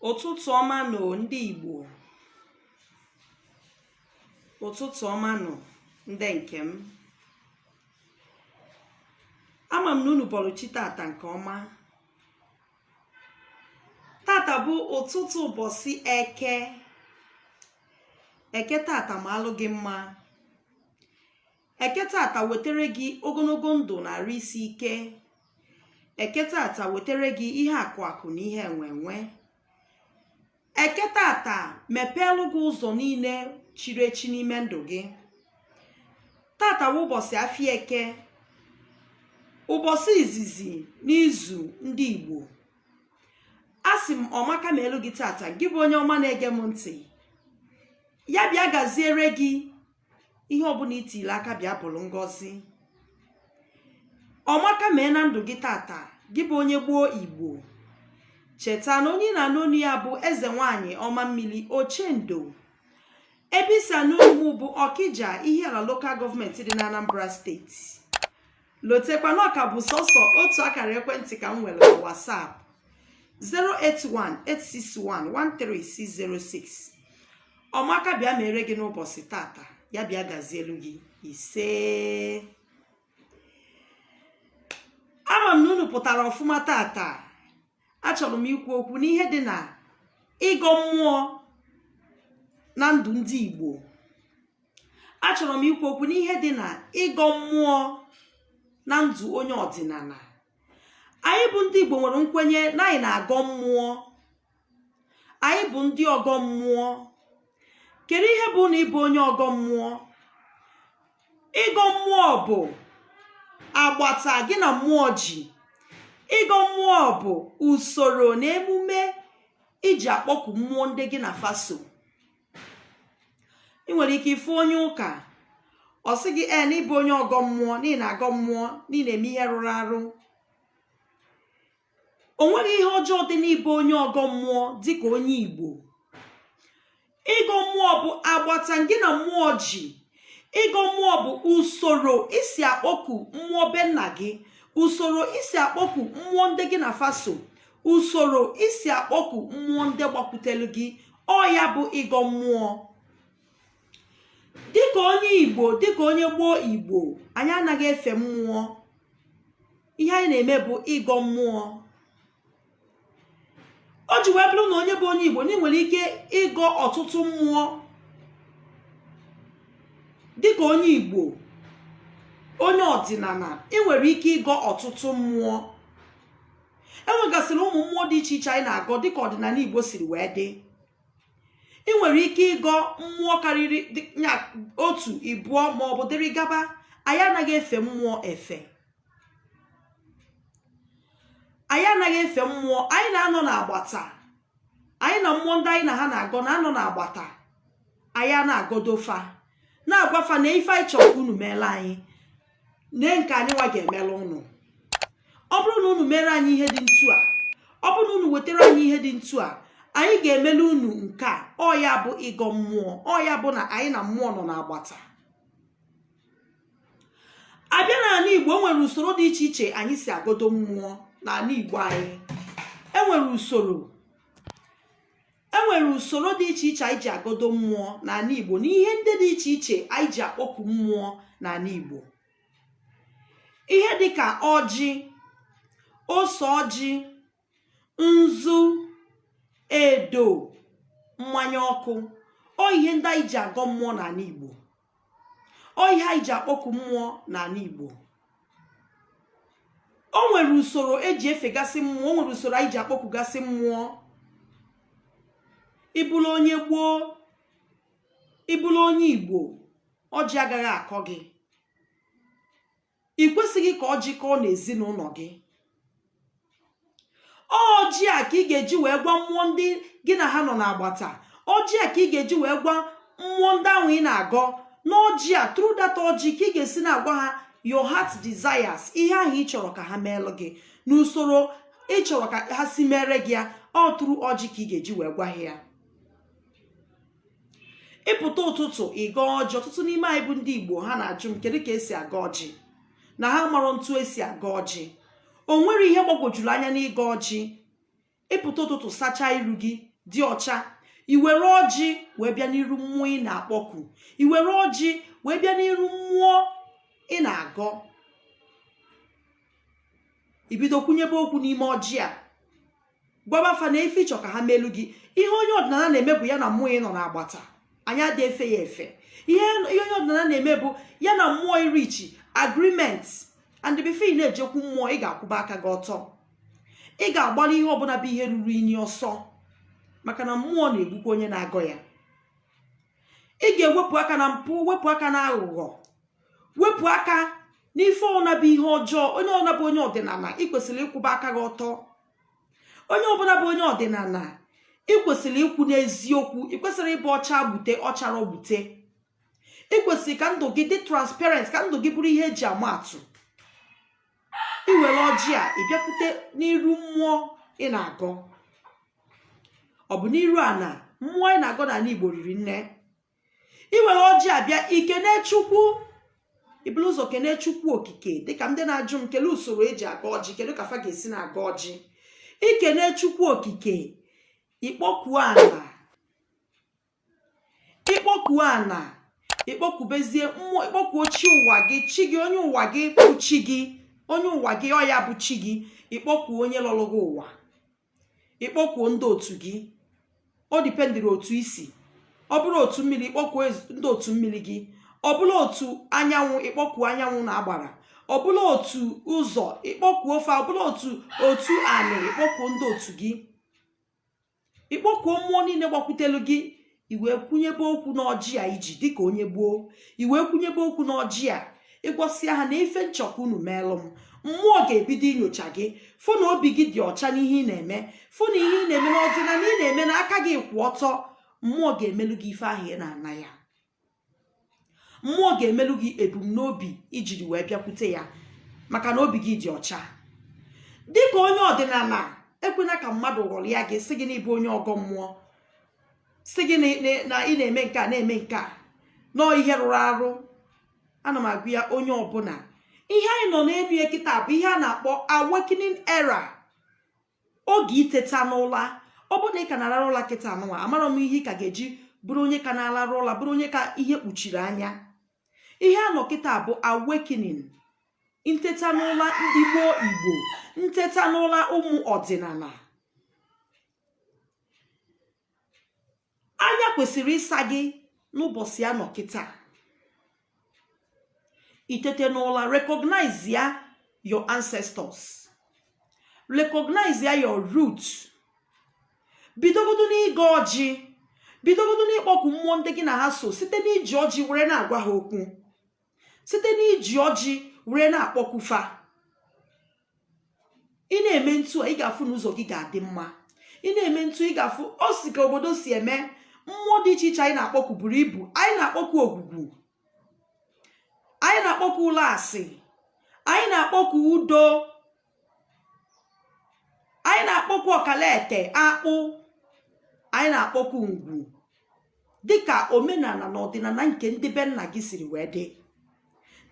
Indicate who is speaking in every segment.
Speaker 1: ụtụtụ ọma nụ ndị Igbo ụtụtụ ọma nụ ndị nke m ama m na unu bọrọ chi tata nke ọma tata bụ ụtụtụ ụbọchị eke eke tata maalụ gị mma eke tata wetere gị ogologo ndụ na arụ isi ike eke tata wetere gị ihe akụ akụ na ihe enwe enwe eke tata mepeelu gị ụzọ niile chiri echi n'ime ndụ gị tata wụ ụbọchị afịa eke ụbọchị izizi n'izu ndị igbo asị m ọmaka meelu gị tata gị bụ onye ọma na-ege m ntị ya bịa gaziere gị ihe ọbụla i tile aka bịa bụrụ ngọzi ọmaka mee na ndụ gị tata gị bụ onye gboo igbo cheta na onye ị na-anụ onu ya bụ eze nwanyị ọma mmiri ochendo ebe i si anụ onu m bụ ọkija ihiala lokal gọọmenti dị na anambra steeti lotekwa na ọ ka bụ sọsọ otu akara ekwentị ka m nwere na WhatsApp 08186113606 ọmaka bịa meere gị n'ụbọchị tata ya bịa gazielu gị isee ama m na unu pụtara ọfụma tata achọrọ m ikwu okwu n'ihe dị na ịgọ mmụọ na ndụ ndị Igbo achọrọ m ikwu okwu n'ihe dị na ịgọ mmụọ na ndụ onye ọdịnala anyị bụ ndị Igbo nwere nkwenye na anyị na-agọ mmụọ anyị bụ ndị ọgọ mmụọ kedu ihe bụ na ị bụ onye ọgọ mmụọ ịgọ mmụọ bụ agbata gị na mmụọ ji ịgọ mmụọ bụ usoro na emume i ji akpọku mmụọ ndị gị na fa so ị nwere ike ịfụ onye ụka ọ sị gị ee na ị bụ onye ọgọ mmụọ na ị na-agọ mmụọ na ị na-eme ihe rụrụ arụ o nweghị ihe ọjọọ dị n'ịbụ onye ọgọ mmụọ dịka onye igbo ịgọ mmụọ bụ agbata gị na mmụọ ji ịgọ mmụọ bụ usoro i si akpọku mmụọ be nna gị usoro i si akpọku mmụọ ndị gị na fa so usoro isi akpọku mmụọ ndị gbakwutelu gị ọ ya bụ ịgọ mmụọ dịka onye igbo dịka onye gboo igbo anyị anaghị efe mmụọ ihe anyị na-eme bụ ịgọ mmụọ o ji wee bụrụ na onye bụ onye igbo na ị nwere ike ịgọ ọtụtụ mmụọ dịka onye igbo onye ọdịnala ị nwere ike ịgọ ọtụtụ mmụọ enwegasịrị ụmụ mmụọ dị iche iche anyị na-agọ dịka ọdịnala igbo siri wee dị ị nwere ike ịgọ mmụọ karịrị otu ịbụọ ma ọ bụ dịrị gaba anyị anaghị efe mmụọ efe anyị anaghị efe mmụọ anyị na-anọ n'agbata anyị na mmụọ ndị anyị na ha na-agọ na-anọ n'agbata anyị ana-agọdo fa na-agwa fa nee ife anyị chọrọ ka unu meelu anyị nee nke anyị nwa ga-emelu unu ọ bụrụ na unu mere anyị ihe dị ntu a ọ bụrụ na unu wetara anyị ihe dị ntu a anyị ga-emelu unu nke a ọ ya bụ ịgọ mmụọ ọ ya bụ na anyị na mmụọ nọ n'agbata a bịa n'anị igbo e nwere usoro dị iche iche anyị si agọdo mmụọ n'anị igbo anyị e nwere usoro e nwere usoro dị iche iche anyị ji agọdo mmụọ n'anị Igbo na ihe ndị dị iche iche anyị ji akpọku mmụọ n'anị Igbo ihe dịka ọjị ose ọjị nzu edo mmanya ọkụ ọ ihe ndị anyị ji agọ mmụọ n'anị Igbo ọ ihe anyị ji akpọku mmụọ n'anị Igbo o nwere usoro e ji efegasị mmụọ o nwere usoro anyị ji akpọkugasị mmụọ ị bụrụ onye gboo ị bụrụ onye Igbo ọjị agaghị akọ gị ị kwesịghị ka ọjị kọọ n'ezinụnọ gị ọjị a ka ị ga-eji wee gwa mmụọ ndị gị na ha nọ n'agbata ọjị a ka ị ga-eji wee gwa mmụọ ndị ahụ ị na-agọ n'ọjị a through that ọjị ka ị ga-esi na-agwa ha your heart desires ihe ahụ ị chọrọ ka ha meelụ gị n'usoro ị chọrọ ka ha si mere gị ya ọ through ọjị ka ị ga-eji wee gwa ha ya ị pụta ụtụtụ ịgọ ọjị ọtụtụ n'ime anyị bụ ndị igbo ha na-ajụ m kedu ka e si agọ ọjị na ha amarọ ntu e si agọ ọjị o nwerọ ihe gbagwojuru anya n'ịgọ ọjị ị pụta ụtụtụ sachaa iru gị dị ọcha i were ọjị wee bịa n'iru mmụọ ị na-akpọku i were ọjị wee bịa n'iru mmụọ ị na-agọ i bido kwunyebe okwu n'ime ọjị a gwaba fa na ife ịchọ ka ha melu gị ihe onye ọdịnala na-eme bụ ya na mmụọ ịnọ n'agbata anyị adị efe ya efe ihe onye ọdịnala na-eme bụ ya na mmụọ irichi agreement and before ị na-ejekwu mmụọ ị ga-akwụba aka gị ọtọ ị ga-agbara ihe ọbụla bụ ihe ruru inyi ọsọ maka na mmụọ na-egbukwa onye na-agọ ya ị ga-ewepụ aka na mpụ wepụ aka na aghụghọ wepụ aka n'ife ọbụla bụ ihe ọjọọ onye ọbụla bụ onye ọdịnala ị kwesịrị ịkwụba aka gị ọtọ onye ọbụla bụ onye ọdịnala ị kwesịrị ịkwụ n'eziokwu ị kwesịrị ịbụ ọcha gbute ọchara gbute ị kwesịrị ka ndụ gị dị transparent ka ndụ gị bụrụ ihe eji ama atụ ị were ọjị a ị bịakwute n'iru mmụọ ị na-agọ ọ bụ n'iru ana mmụọ ị na-agọ n'ala igbo riri nne ị were ọjị a bịa ikene chukwu iburu ụzọ kene chukwu okike dịka ndị na-ajụ m kelee usoro eji agọ ọjị kedu ka fa ga-esi na-agọ ọjị ikene chukwu okike ikpọkuo ana ikpọkuo ana ikpọkubezie mmụọ ikpọkuo chi ụwa gị chi gị onye ụwa gị bụ chi gị onye ụwa gị ọ ya bụ chi gị ikpọkuo onye lọrọ gị ụwa ikpọkuo ndị otu gị ọ dependịrị otu i si ọ bụrụ otu mmiri ikpọkuo ezi- ndị otu mmiri gị ọ bụrụ otu anyanwụ ikpọkuo anyanwụ na agbara ọ bụrụ otu ụzọ ikpọkuo ofe ọ bụrụ otu otu anị ikpọkuo ndị otu gị ikpọkuo mmụọ niile gbakwutelu gị iwee kwunyebe okwu n'ọjị a iji dịka onye gboo iwee kwunyebe okwu n'ọjị a ịgwasịa ha na ife m chọ ka unu meelụ m mmụọ ga-ebido inyocha gị fụ na obi gị dị ọcha n'ihe ị na-eme fụ na ihe ị na-eme n'ọdịnala ị na-eme na aka gị kwụ ọtọ mmụọ ga-emelu gị ife ahụ ị na-ana ya mmụọ ga-emelu gị ebumnobi ijiri wee bịakwute ya maka na obi gị dị ọcha dịka onye ọdịnala ekwena ka mmadụ ghọrịa gị sị gị na ị bụ onye ọgọ mmụọ sị gị na ị na-eme nke a na-eme nke a na ọ ihe rụrụ arụ ana m agwa ya onye ọbụla ihe anyị nọ n'elu ya kịta bụ ihe a na-akpọ awakening era oge iteta n'ụla ọ bụrụ na ị ka na-alarụ ụla kịta anụnwa amarọ m ihe ị ka ga-eji bụrụ onye ka na-alarụ ụla bụrụ onye ka ihe kpuchiri anya ihe a nọ kịta bụ awakening nteta n'ụla ndị gboo igbo nteta n'ụla ụmụ ọdịnala anya kwesịrị ịsa gị n'ụbọchị a nọ kịta itete n'ụla recognize ya your ancestors recognize ya your root bidogodo n'ịgọ ọjị bidogodo n'ịkpọku mmụọ ndị gị na ha so site n'iji ọjị were na-agwa ha okwu site n'iji ọjị were na-akpọku fa ị na-eme ntu a ị ga-afụ na ụzọ gị ga-adị mma ị na-eme ntu ị ga-afụ o si ka obodo si eme mmụọ dị iche iche anyị na-akpọku buru ibu anyị na-akpọku ogwugwu anyị na-akpọku ụlasị anyị na-akpọku udo anyị na-akpọku ọkalete akpụ anyị na-akpọku ngwu dịka omenala na ọdịnala nke ndị be nna gị siri wee dị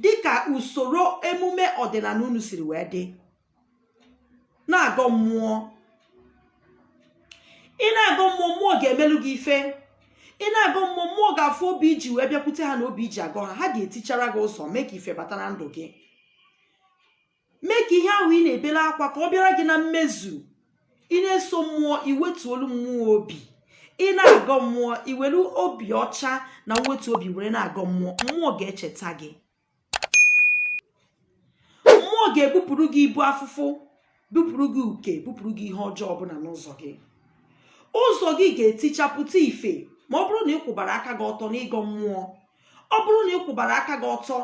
Speaker 1: dịka usoro emume ọdịnala unu siri wee dị na-agọ mmụọ ị na-agọ mmụọ mmụọ ga-emelu gị ife ị na-agọ mmụọ mmụọ ga-afụ obi i ji wee bịakwute ha na obi i ji agọ ha ha ga-etichara gị ụzọ mee ka ife bata na ndụ gị mee ka ihe ahụ ị na-ebele akwa ka ọ bịara gị na mmezu ị na-eso mmụọ i wetuolu mmụọ obi ị na-agọ mmụọ i welu obi ọcha na mwetu obi were na-agọ mmụọ mmụọ ga-echeta gị mmụọ ga-ebupụrụ gị ibu afụfụ bupụrụ gị uke bupụrụ gị ihe ọjọọ ọbụla n'ụzọ gị ụzọ gị ga-etichapụta ife ma ọ bụrụ na ị kwụbara aka gị ọtọ n'ịgọ mmụọ ọ bụrụ na ị kwụbara aka gị ọtọ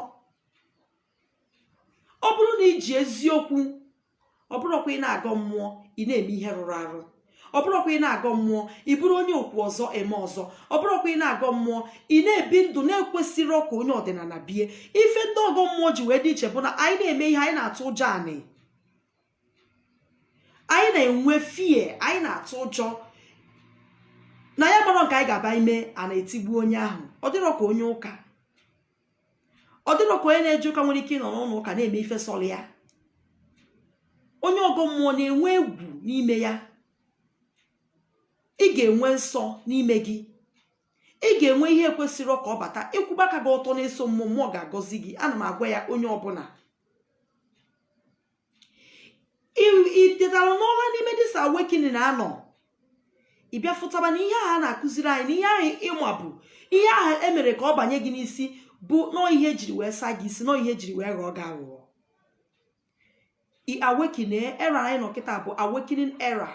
Speaker 1: ọ bụrụ na i ji eziokwu ọ bụrọkwa ị na-agọ mmụọ ị na-eme ihe rụrụ arụ ọ bụrọkwa ị na-agọ mmụọ ị bụrụ onye okwu ọzọ eme ọzọ ọ bụrọkwa ị na-agọ mmụọ ị na-ebi ndụ na-ekwesịrọ ka onye ọdịnala bie ife ndị ọgọ mmụọ ji wee dị iche bụ na anyị na-eme ihe anyị na-atụ ụjọ anị anyị na-enwe fear anyị na-atụ ụjọ na a marọ nke anyị ga-aba ime ana etigbuo onye ahụ ọ dịrọ ka onye ụka ọ dịrọ ka onye na-eje ụka nwere ike ịnọ n'ụlọ ụka na-eme ife sọrọ ya onye ọgọ mmụọ na-enwe egwu n'ime ya ị ga-enwe nsọ n'ime gị ị ga-enwe ihe kwesịrị ka ọ bata ị kwụba aka gị ọtọ na-eso mmụọ mmụọ ga-agọzi gị ana m agwa ya onye ọbụla itetara n'ụla n'ime dis awakening a nọ ị bịa fụtaba na ihe ahụ a na-akụziri anyị na ihe ahụ ị ma bụ ihe ahụ emere ka ọ banye gị n'isi bụ nọọ ihe ejiri wee saa gị isi nọọ ihe ejiri wee ghọọ gị aghụghọ awakening era anyị nọ kịta bụ awakening era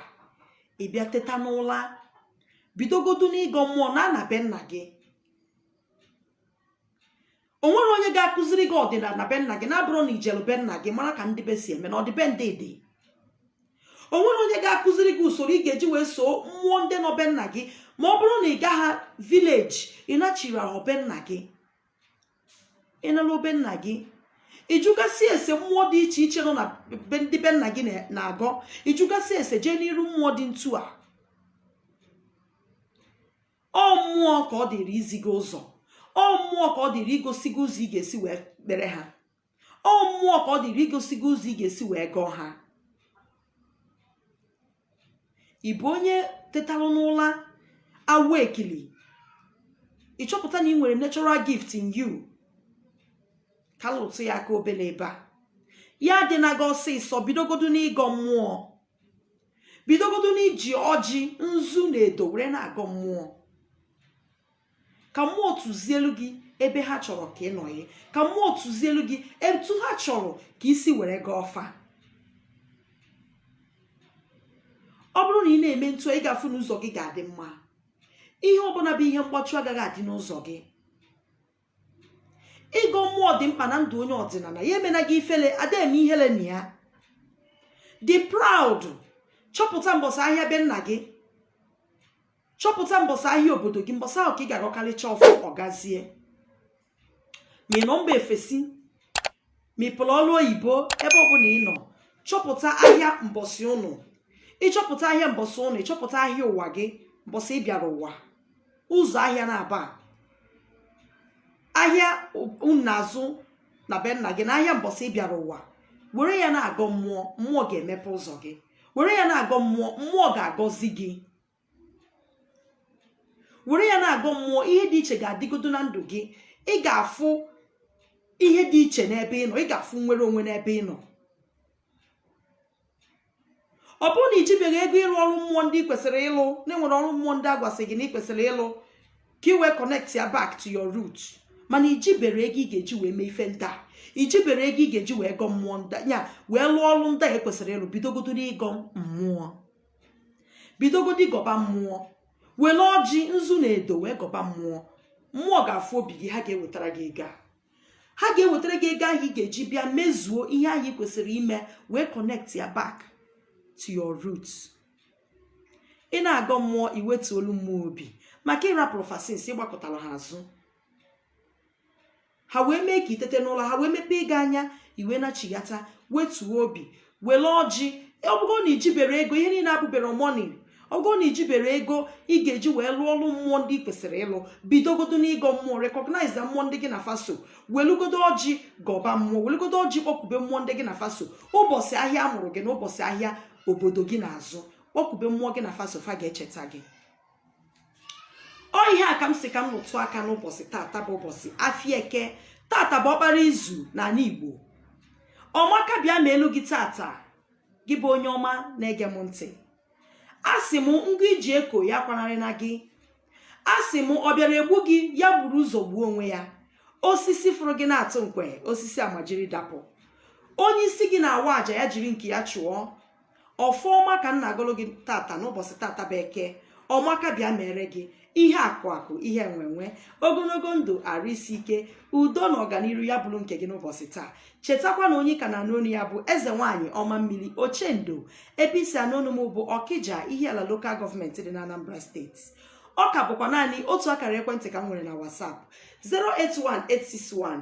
Speaker 1: ị bịa teta n'ụla bidogodu n'ịgọ mmụọ na ana be nna gị o nwerọ onye ga-akụziri gị ọdịnala be nna gị na-abụrọ na i jelu be nna gị mara ka ndị be si eme na ọdịbendị dị o nwerọ onye ga-akụziri gị usoro ị ga-eji wee soo mmụọ ndị nọ be nna gị ma ọ bụrụ na ị gaghị village ị nachirọ azụ be nna gị ị naluo be nna gị ị jụgasị ese mmụọ dị iche iche nọ na be ndị be nna gị na- na-agọ ị jụgasị ese jee n'iru mmụọ dị ntu a ọ mmụọ ka ọ dịrị izi gị ụzọ ọ mmụọ ka ọ dịrị igosi gị ụzọ ị ga-esi wee kpere ha ọ mmụọ ka ọ dịrị igosi gị ụzọ ị ga-esi wee gọọ ha ị bụ onye tetalụ n'ụla awakening ị chọpụta na ị nwere natural gift in you ka lụtụ ya aka obele ebe a ya adịna gị ọsịsọ bidogodo n'ịgọ mmụọ bidogodo n'iji ọjị nzu na edo were na-agọ mmụọ ka mmụọ tụzielu gị ebe ha chọrọ ka ị nọghị ka mmụọ tụzielu gị etu ha chọrọ ka i si were gọọ fa ọ bụrụ na ị na-eme etu a ị ga-afụ na ụzọ gị ga-adị mma ihe ọbụna bụ ihe mgbachu agaghị adị n'ụzọ gị ịgọ mmụọ dị mkpa na ndụ onye ọdịnana ya emena gị ifele a da eme ihele na ya dị proud chọpụta mbọsị ahịa be nna gị chọpụta mbọsị ahịa obodo gị mbọsị ahụ ka ị ga-agọkarịcha ọfọ ọ gazie ma ị nọ mba ofesi ma ị pụrụ ọrụ oyibo ebe ọbụla ị nọ chọpụta ahịa mbọsị unu ị chọpụta ahịa mbọsị unu ị chọpụta ahịa ụwa gị mbọsị ị bịara ụwa ụzọ ahịa naabọ a ahịa unu na-azụ na be nna gị na ahịa mbọsị ị bịara ụwa were ya na-agọ mmụọ mmụọ ga-emepe ụzọ gị were ya na-agọ mmụọ mmụọ ga-agọzi gị were ya na-agọ mmụọ ihe dị iche ga-adịgodo na ndụ gị ị ga-afụ ihe dị iche n'ebe ị nọ ị ga-afụ nwere onwe n'ebe ị nọ ọ bụrụ na i jibeghị ego ịrụ ọrụ mmụọ ndị ị kwesịrị ịlụ na e nwere ọrụ mmụọ ndị a gwasị gị na ị kwesịrị ịlụ ka ị wee connect ya back to your root mana i jibere ego ị ga-eji wee mee ife ndị a i jibere ego ị ga-eji wee gọ mmụọ ndị a wee lụọ ọrụ ndị a ị kwesịrị ịlụ bidogodo n'ịgọ mmụọ bidogodo ịgọba mmụọ were ọjị nzu na edo wee gọba mmụọ mmụọ ga-afụ obi gị ha ga-ewetara gị ego a ha ga-ewetara gị ego ahụ ị ga-eji bịa mezuo ihe ahụ ị kwesịrị ime wee connect ya back to your root ị na-agọ mmụọ i wetuolu mmụọ obi maka ị rapụrụ fa since ị gbakụtara ha azụ ha wee mee ka i tete n'ụla ha wee mepee gị anya i wee nachighata wetuo obi were ọjị ọ bụgo na i jibere ego ihe niile abụbere money ọ bụgo na i jibere ego ị ga-eji wee lụọ ọrụ mmụọ ndị ị kwesịrị ịlụ bidogodo n'ịgọ mmụọ recognize mmụọ ndị gị na fa so welugodo ọjị gọba mmụọ welugodo ọjị kpọkube mmụọ ndị gị na fa so ụbọsị ahịa a mụrụ gị na ụbọsị ahịa obodo gị na-azụ kpọkube mmụọ gị na fa so fa ga-echeta gị ọ ihe a ka m sị ka m rụtụ aka n'ụbọchị tata bụ ụbọchị afịa eke tata bụ ọkpara izu n'ala igbo ọmaka bịa meelu gị tata gị bụ onye ọma na-ege m ntị a sị m ngụ i ji eko ya kwanarịna gị a sị m ọ bịara egbu gị ya buru ụzọ gbuo onwe ya osisi fụrụ gị na-atụ nkwe osisi a majiri dapụ onye isi gị na-awa aja ya jiri nke ya chụọ ọfọ ọma ka m na-agọlụ gị tata n'ụbọchị tata bụ eke ọmaka bịa meere gị ihe akụ akụ ihe enwenwe ogologo ndụ arụ isi ike udo na ọganiru ya bụrụ nke gị n'ụbọchị taa chetakwa na onye ị ka na-anụ onu ya bụ eze nwaanyị ọma mmiri ochendo ebe i si anụ onu m bụ ọkija ihiala lokal gọọmenti dị na anambra steeti ọ ka bụkwa naanị otu akara ekwentị ka m nwere na WhatsApp 081